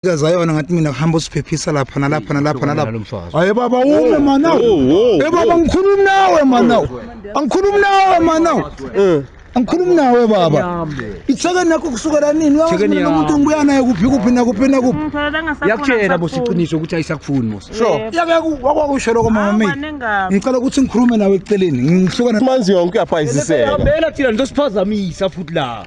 kaza yona ngathi mina kuhamba usiphephisa lapha nalapha nalapha nalapha haye baba ume manawe e baba ngikhulumi nawe manawe angikhulumi nawe manawe eh. angikhulumi nawe baba ithekeni nakho kusukela nini uyawumuntu umuntu ngibuya naye kuphi kuphi nakuphi nakuphi mm, yakutshela bosiqiniso ukuthi ayisakufuni mos wakwakusho loko mama mi ngicela ukuthi ngikhulume nawe eceleni ngihlukana manzi yonke uyaphayisiseka thina nizosiphazamisa futhi la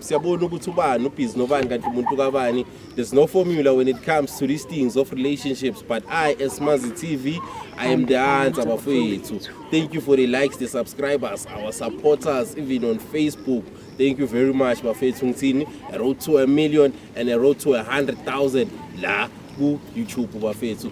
siyabona ukuthi ubani ubhizi nobani kanti umuntu kabani there's no formula when it comes to these things of relationships but i as mazi tv i am the answer bafowethu thank you for the likes the subscribers our supporters even on facebook thank you very much bafethu ngithini a road to a million and a road to a 100000 la ku youtube bafethu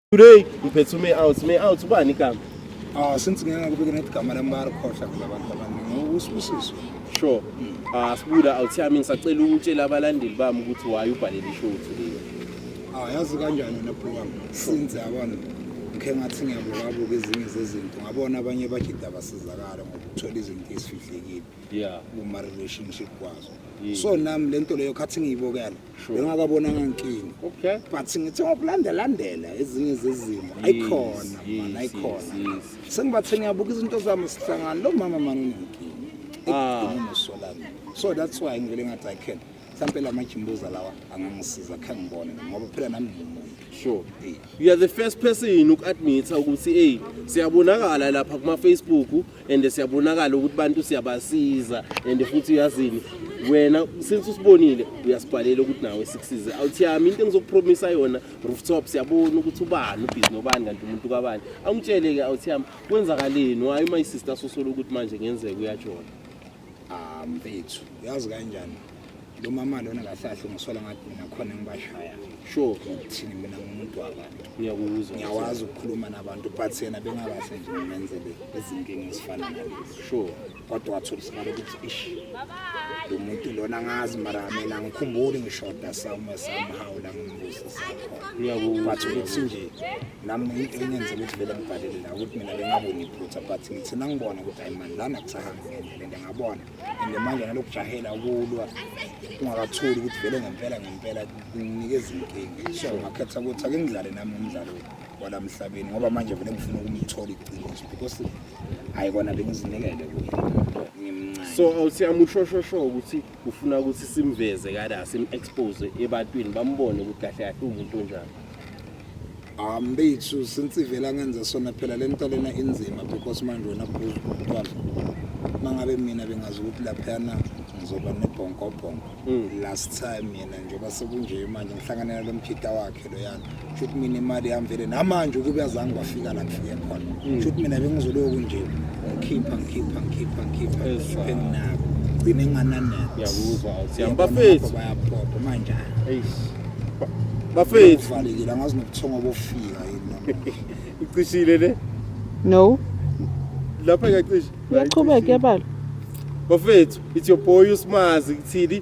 Today ngiphethe ume out, me out ubani igama? Ah since ngeke ngakubeka nethi igama lami bayarikhohla vele abantu abaningi. Usibusiso. Sure. Ah sibuda out yami ngisacela ukutshela abalandeli bami ukuthi why ubhalele ishow today. Ah yazi kanjani wena bro wami? Since yabona ngikhe ngathi ngiyabukabuka ezinye zezinto ngabona abanye bajida basizakala ngokuthola izinto ezifihlekile Yeah. kuma-relationship kwazo Yeah. so nami le nto leyo khathi ngiyibokela bengakabonanga nkinga okay but ngithe ngokulandelandela ezinye zezimo ayikhona mani ayikhona sengibathe ngiyabuka izinto zami sihlangana lo mama mani unenkinga ekudunosolami ah. so that's why ngivele ngathi i can mhlampe la majimbuza lawa angangisiza khe ngibone ngoba phela nami ngimuntu sure you are the first person uku-admitha ukuthi eyi siyabonakala lapha kuma-facebook and siyabonakala ukuthi bantu siyabasiza and futhi uyazini wena since usibonile uyasibhalela ukuthi nawe sikusize awuthiyami into engizokupromisa yona rooftop siyabona ukuthi ubani ubhizi nobani kanti umuntu kabani angitshele-ke awuthiyami kwenzakaleni wayo my sister sosola ukuthi manje ngenzeka uyajona Ah mfethu, uyazi kanjani? Lo mama lona kahlahla ungisola ngathi mina khona ngibashaya. Sure. Thini mina ngumuntu wabantu. Ngiyakuzwa. Ngiyawazi ukukhuluma nabantu but yena bengakahle nje ngimenzele izinkinga ezifana nalezi. Sure. Kodwa wathola isikhala ukuthi ish. Lo muntu lona ngazi mara mina ngikhumbuli ngishoda sawume somehow la ngimbuza sakhona. Ngiyakuzwa. But ukuthi nje nami into engenza ukuthi vele ngibhalele la ukuthi mina bengaboni iphutha but ngithina ngibona ukuthi ayi man lana kusahambi. ngendlela nje ngabona and manje nalokujahela ukulwa ungakathuli ukuthi vele ngempela ngempela kunikeza inkinga so ngakhetha ukuthi ake ngidlale nami umdlalo wala mhlabeni ngoba manje vele ngifuna ukumthola iqiniso because hayi kona bengizinikele kuye ngimncane so awuthi amushoshosho ukuthi ufuna ukuthi simveze kada sim-expose ebantwini bambone ukuthi kahle kahle uwumuntu onjani ambethu since ivela ngenza sona phela le nto lena inzima because manje wena bhuzu kuthiwa uma ngabe mina bengazi ukuthi laphayana ngizoba nebhonkobhonko last time yena njengoba sekunje manje ngihlanganela lo mphita wakhe yami shuthi mina imali yami vele namanje ukube azange bafika la kufike khona hmm. shuthi mina bengizoloku nje ngikhipha ngikhipha ngikhipha ngikhipha ngikhiphe nginako gcine ngananetho ngiyakuzwa siyami bafethu bayaphopha manje eish bafethu valekile angazi nobuthongo bofika yini icishile le no lapha iyacisha iyaqhubeka yabala bafethu it's your boy usimazi kuthini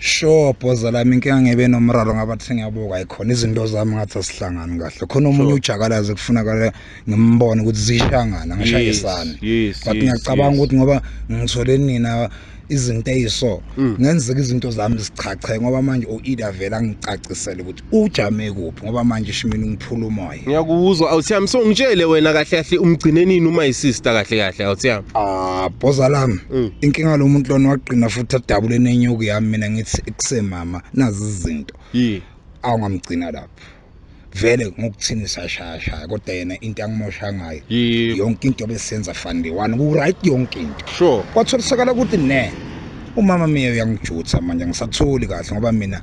sure bhoza lami inkinga ngebe nomraro ngabathi sengiyabuka ayikhona izinto zami ngathi asihlangani kahle khona omunye ujakalazi kufunakala ngimbone ukuthi zishangana ngishayisani but ngiyacabanga ukuthi ngoba ngithole nina izinto eyiso mm. ngenzeka izinto zami zichache ngoba manje u-ida vele angicacisele ukuthi ujame kuphi ngoba manje shimini ngiphula umoya ngiyakuzwa awuthiyami so ngitshele wena kahle kahle umgcine nini uma isister kahle kahle awuthiyami ah boza lami mm. inkinga lo muntu lona waqina futhi adabule nenyuku yami mina ngithi kusemama nazi izinto yini awungamgcina lapho vele ngokuthini sashayashaya kodwa yena into angimosha ngayo yonke into besenza fani one ku-right yonke into sure kwatholisakala ukuthi ne umama mina uyangijutha manje ngisatholi kahle ngoba mina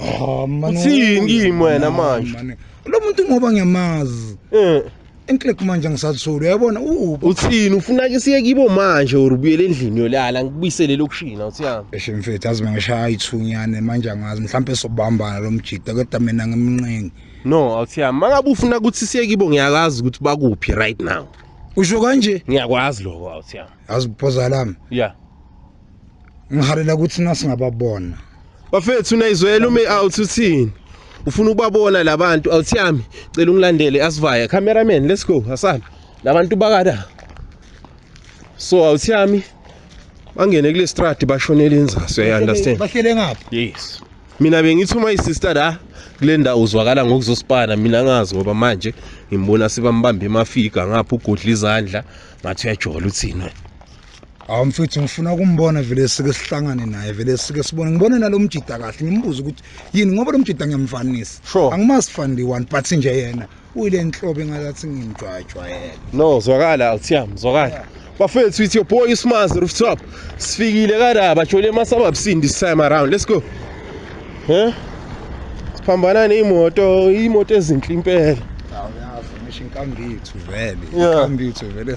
Ah, mani, Uthini kimi wena mani, manje? mani. lo muntu ngoba ngiyamazi Eh, enklek manje angisathuli uyabona uphi uthini ufuna ke siye kibo manje or ubuyele endlini yolala ngikubuyisele lokushina uthiyami eshe mfethu azi mangishaya ithunyane manje angazi mhlawumpe sobambana lo mjida kodwa mina ngimnqeni no awuthiyami mangabe ufuna ukuthi siye kibo ngiyakwazi ukuthi bakuphi right now usho kanje ngiyakwazi lokho awuthiyami yazi uphoza lami ya ngihalela ukuthi nasingababona bafethu nayizwela ume out uthini ufuna ukubabona labantu awuthi yami cela ungilandele asivaya cameraman let's go asana labantu bakada so awuthi yami bangene kule strati bashonele inzaso you understand bahlele ngapha yes mina bengithi uma isister la kule ndawo uzwakala ngokuzosipana mina ngazi ngoba manje ngimbona sebambamba emafiga ngapha ugodla izandla ngathi uyajola uthini wena hawu mfethu ngifuna ukumbona vele sike sihlangane naye vele sike sibone ngibone nalo mjida kahle ngimbuze ukuthi yini ngoba lo mjida ngiyamfanisa Sure. angimazi fandi one but nje yena uyile nhlobo engazathi ngimjwayejwayele no zwakala awuthiyami zwakala bafethu it's your boy usmazi rooftop sifikile kadaba jole masababsini this time around let's go huh? siphambana neyimoto iyimoto ezinhle impela hawu yazi ngisho inkambithu vele Yeah. inkambithu vele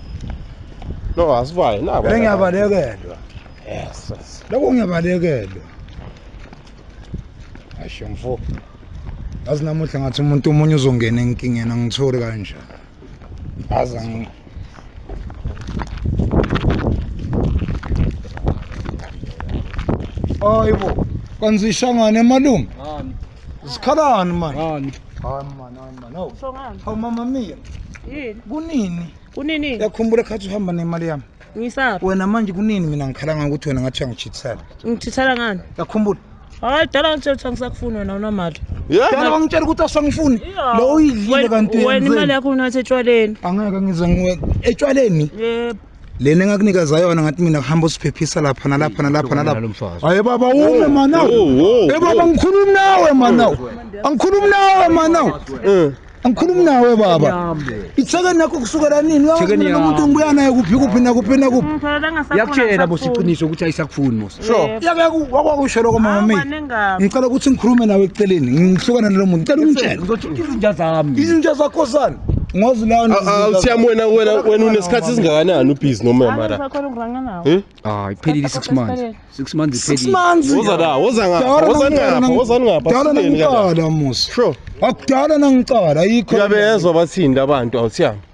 No asivayo nabo. Ngiyabalekelwa. Yes. Lokho ngiyabalekelwa. Asho mfo. Azi namuhla ngathi umuntu omunye uzongena enkingeni angitholi kanjani. Azi ngi Hayibo. Kanzishangane malume. Ngani? Zikhalani manje? Ngani? Hayi manje. No. Usho ngani? Hawu mama Mia, Yini? kunini? Kunini? Uyakhumbula khathi uhamba nemali yami? Ngisaphi? Wena manje kunini mina ngikhala ngokuthi wena ngathi uyangijithisela? Ngithithela ngani? Uyakhumbula? Hayi dala ngitshela ukuthi angisakufuni wena unamali. Dala wangitshela ukuthi awusangifuni. Iya. Lo uyidlile Wena- kanti Wena imali uyenzeni? yakho unathe etshwaleni. Angeke ngize ngiwe etshwaleni. Yebo. lena engakunikeza yona ngathi mina kuhamba usiphephisa lapha nalapha nalapha nalapha hayi baba ume manaw e baba ngikhulumi nawe manaw angikhulumi nawe manaw eh. angikhulumi nawe baba ithekeni nakho kusukela nini umuntu ngibuya naye kuphi kuphi nakuphi nakuphi yakutshela bosiqiniso ukuthi ayisakufuni sure yake wakwakusho lokho mama mimi ngicela ukuthi ngikhulume nawe eceleni ngihlukana nalo muntu ngicela ungitshele ngizokhipha izinja zami izinja zakho sani ngozi lawo awuthiyami wena wena wena unesikhathi esingakanani ubhizi noma mara eh? ah iphelile 6 months 6 months iphelile 6 months woza la woza ngapha woza ngapha woza ngapha dala nangicala musa sure akudala nangicala ayikho uyabezwa bathini labantu awuthiyami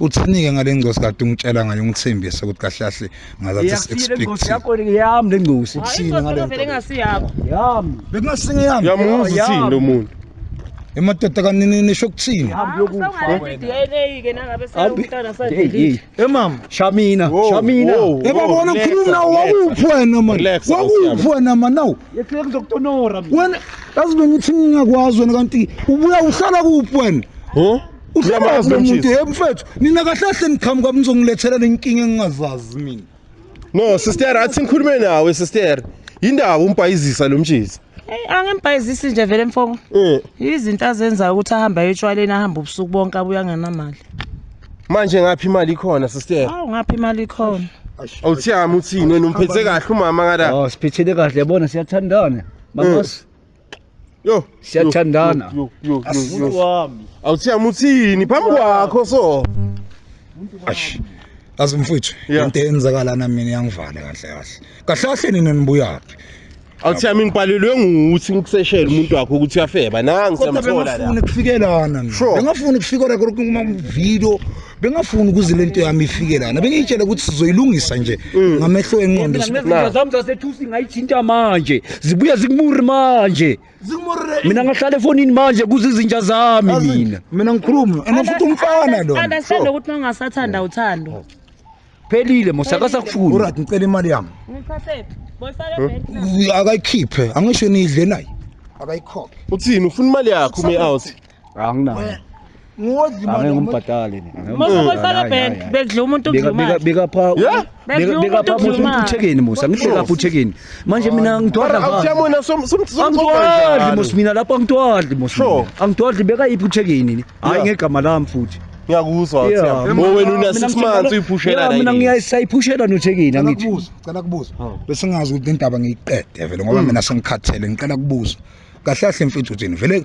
uthinike ngale ngcosi kade ungitshela ngayo ungithembise ukuthi kahle kahle ngazathi expect yakho yami le ngcosi uthini ngale nto engasiyakho yami bekungasinge yami yamuzi uthini lo muntu emadoda kanini nisho ukuthini hambi yokufa DNA ke nangabe sawumntana sadlile emama shamina shamina ebabona ukhuluma nawo wakuphi wena manje wakuphi wena manje nawo yekhe ngizokutonora wena kazi bengithi ngingakwazi wena kanti ubuya uhlala kuphi wena huh uhlamazi lo muntu yebo mfethu nina kahle kahle niqhamuka nizongilethela lenkinga engingazazi mina no sister athi ngikhulume nawe sister yindaba umbhayizisa lo mtshisi Hey angimbhayizisi nje vele mfoko. Eh. Izinto azenzayo ukuthi ahambe ayotshwaleni ahambe ubusuku bonke abuya anganamali. Manje ngaphi imali ikhona sister? Awu ngaphi imali ikhona? Awuthiyami uthini wena umphethe kahle umama ngala. Oh siphethele kahle yabona siyathandana. Mama eh. Yo, Siyathandana. yo, yo, yo, Umuntu yo. wami. Awuthiyami uthini phambi kwakho so. Ash. Azi mfuthu, Yeah. into eyenzakala na mina yangivala kahle kahle. Kahle kahle nina nibuyaphi? Awuthiyami ngibhalelwe nguthi ngikuseshela umuntu wakho ukuthi uyafeba. Nangi Kodwa siyamthola la. bengafuni kufikelana. Sure. Bengafuni kufikela kuma video bengafuni ukuze lento yami ifike lana bengiyitshela ukuthi sizoyilungisa nje mm. ngamehlo enqondo zami zasethusi ngayithinta manje zibuya zikumuri manje mina ngahlala efonini manje kuze izinja zami mina mina ngikhuluma and futhi umfana lo understand ukuthi mangasathanda uthando phelile mosakasakufuni urat ngicela imali yami ngiphathephi boyifaka ebhenki akayikhiphe angisho nidle naye akayikhokhe uthini ufuna imali yakho ume out anginayo angingumbhadali bekudla umuntu bekapha umuntu uthekeni musa ngihlekapha uthekeni manje mina ngidwadlaangidwadli mos mina lapho angidwadli mos angidwadli bekayiphi uthekeni hhayi ngegama lami futhi ngiyakuzwa wena una-six months uyiphushela mina ngisayiphushela nothekile angithi cela kubuza besingazi ukuthi indaba ngiyiqede vele ngoba mina sengikhathele ngicela kubuza kahle kahle mfethu uthini vele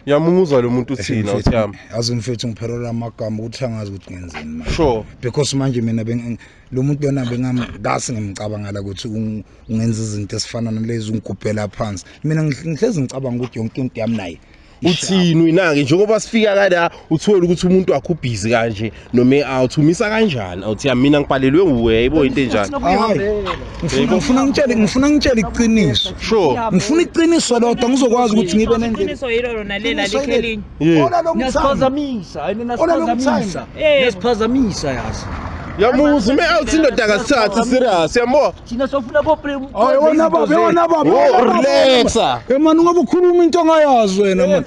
Ngiyamuza lo muntu uthina uThami. Yazi mfethu ngiphelela amagama ukuthi angazi ukuthi ngenzeni manje. Sure. Because manje mina lo muntu lona bengingase ngimcabangela ukuthi ungenza izinto esifana nalezi ungigubhela phansi. Mina ngihlezi ngicabanga ukuthi yonke into yami naye. Uthini uyinake njengoba sifika kala uthola ukuthi umuntu wakho ubhizi kanje noma awuthumisa kanjani awuthi mina ngibhalelwe nguwe yibo into enjani ngifuna ngifuna ngitshele ngifuna ngitshele iqiniso sure ngifuna iqiniso lodwa ngizokwazi ukuthi ngibe nendlela iqiniso yilo lona lela likhelinye ona lo ngisiphazamisa hayi mina siphazamisa ngisiphazamisa yazi yamuzi me awuthi indoda kasithathi serious yambo thina sofuna boprewona baba yona baba relaxa emani ngoba ukhuluma into ongayazi wena mani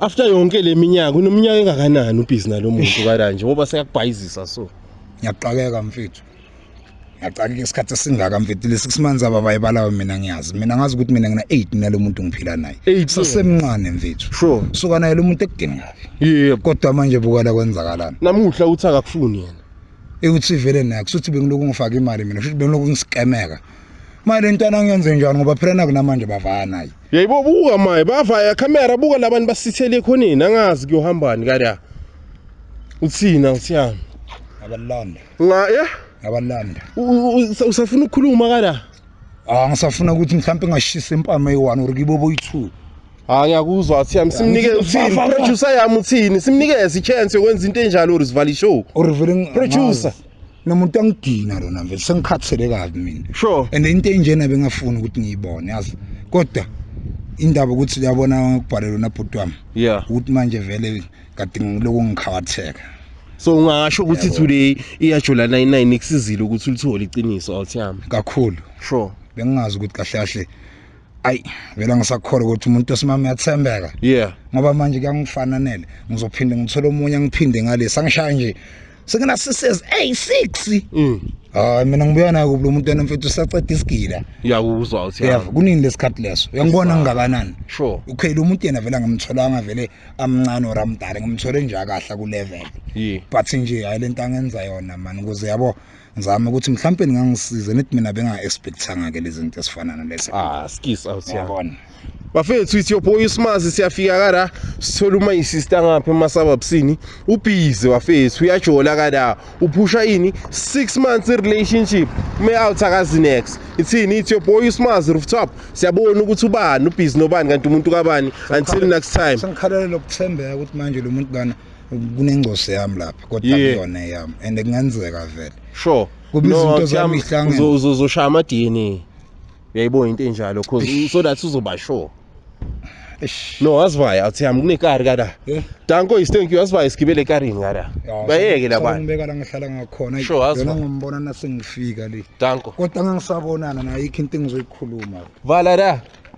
after yonke leminyaka unominyaka engakanani ubhizi nalomuntu karanje ngoba sekakubhayizisa so ngiyaqakeka mfethu ngiyaqakeka isikhathi esingaka mfethu lesi kusimanzi ababayibalayo mina ngiyazi mina ngazi ukuthi mina ngina 8 nalo muntu ngiphila naye sasemncane mfethu sure suka naye lo muntu ekudingayo yebo kodwa manje bukala kwenzakalana namuhla uthi akakufuni yena ekuthi vele naye kusuthi bengiloku ngifaka imali mina futhi bengiloku ngisikemeka maye le ntwana ngiyenze njani ngoba phela nakunamanje bavaya naye yayibo buka maye bavaya camera buka labantu basithele ekhoneni angazi kuyohambani kada uthina uthiyami abalanda nga ya abalanda usafuna ukukhuluma kada ah ngisafuna ukuthi mhlawumbe ngashisa impama eyi-one or kibo boyi-two hayi ngiyakuzwa uthiyami simnike uthini producer yami uthini simnikeze i-chance yokwenza into enjalo or sivala ishow or reveling producer nomuntu angidina lona mfethu sengikhathele kabi mina sure and into enjena bengafuni ukuthi ngiyibone yazi kodwa indaba ukuthi uyabona ngikubhalelwe nabhuti wami yeah ukuthi manje vele kade ngiloko ngikhawatheka so ungasho ukuthi today iyajola 99 ikusizile ukuthi ulithole iqiniso awuthiyami kakhulu sure bengingazi ukuthi kahle kahle ayi vele ngisakhole ukuthi umuntu osimama uyathembeka yeah ngoba manje kuyangifananele ngizophinde ngithole omunye ngiphinde ngalesi angishaya nje sengena sises eyi six mm. hayi mina ngibuya nayo kubulo umuntu wena mfethu usaceda isigila uyakuzwa uthi yeah kunini lesikhathi leso uyangibona ngingakanani sure okay lo muntu yena vele angimtholanga vele amncane or amdala ngimthole nje akahla ku level yeah but nje hayi lento angenza yona man ukuze yabo ngizama ukuthi mhlawumbe ngangisize nithi mina benga expectanga ke lezinto esifana nalezi ah skis out yabona bafethu ithi yophoya usimazi siyafika kara sithola uma yisista ngapha emasababsini ubhizi bafethu uyajola kara uphusha ini 6 months relationship ume out akazi next ithini ithi yophoya usimazi rooftop siyabona ukuthi ubani ubhizi nobani kanti umuntu kabani until next time sangikhalela lokuthembeka ukuthi manje lo muntu lana kunengcosi yami lapha kodwa kuyona yami and kungenzeka vele sure kubizinto zami ihlangene uzoshaya ama DNA uyayibo into enjalo cause so that uzoba sure no asivaya athi hamba kunekari kada eh? danko is thank you asivaya sigibele ekarini kada bayeke labantu ngibeka la ngihlala ngakhona yona ngombona nasengifika le danko kodwa ngangisabonana nayo ikho into engizoyikhuluma vala la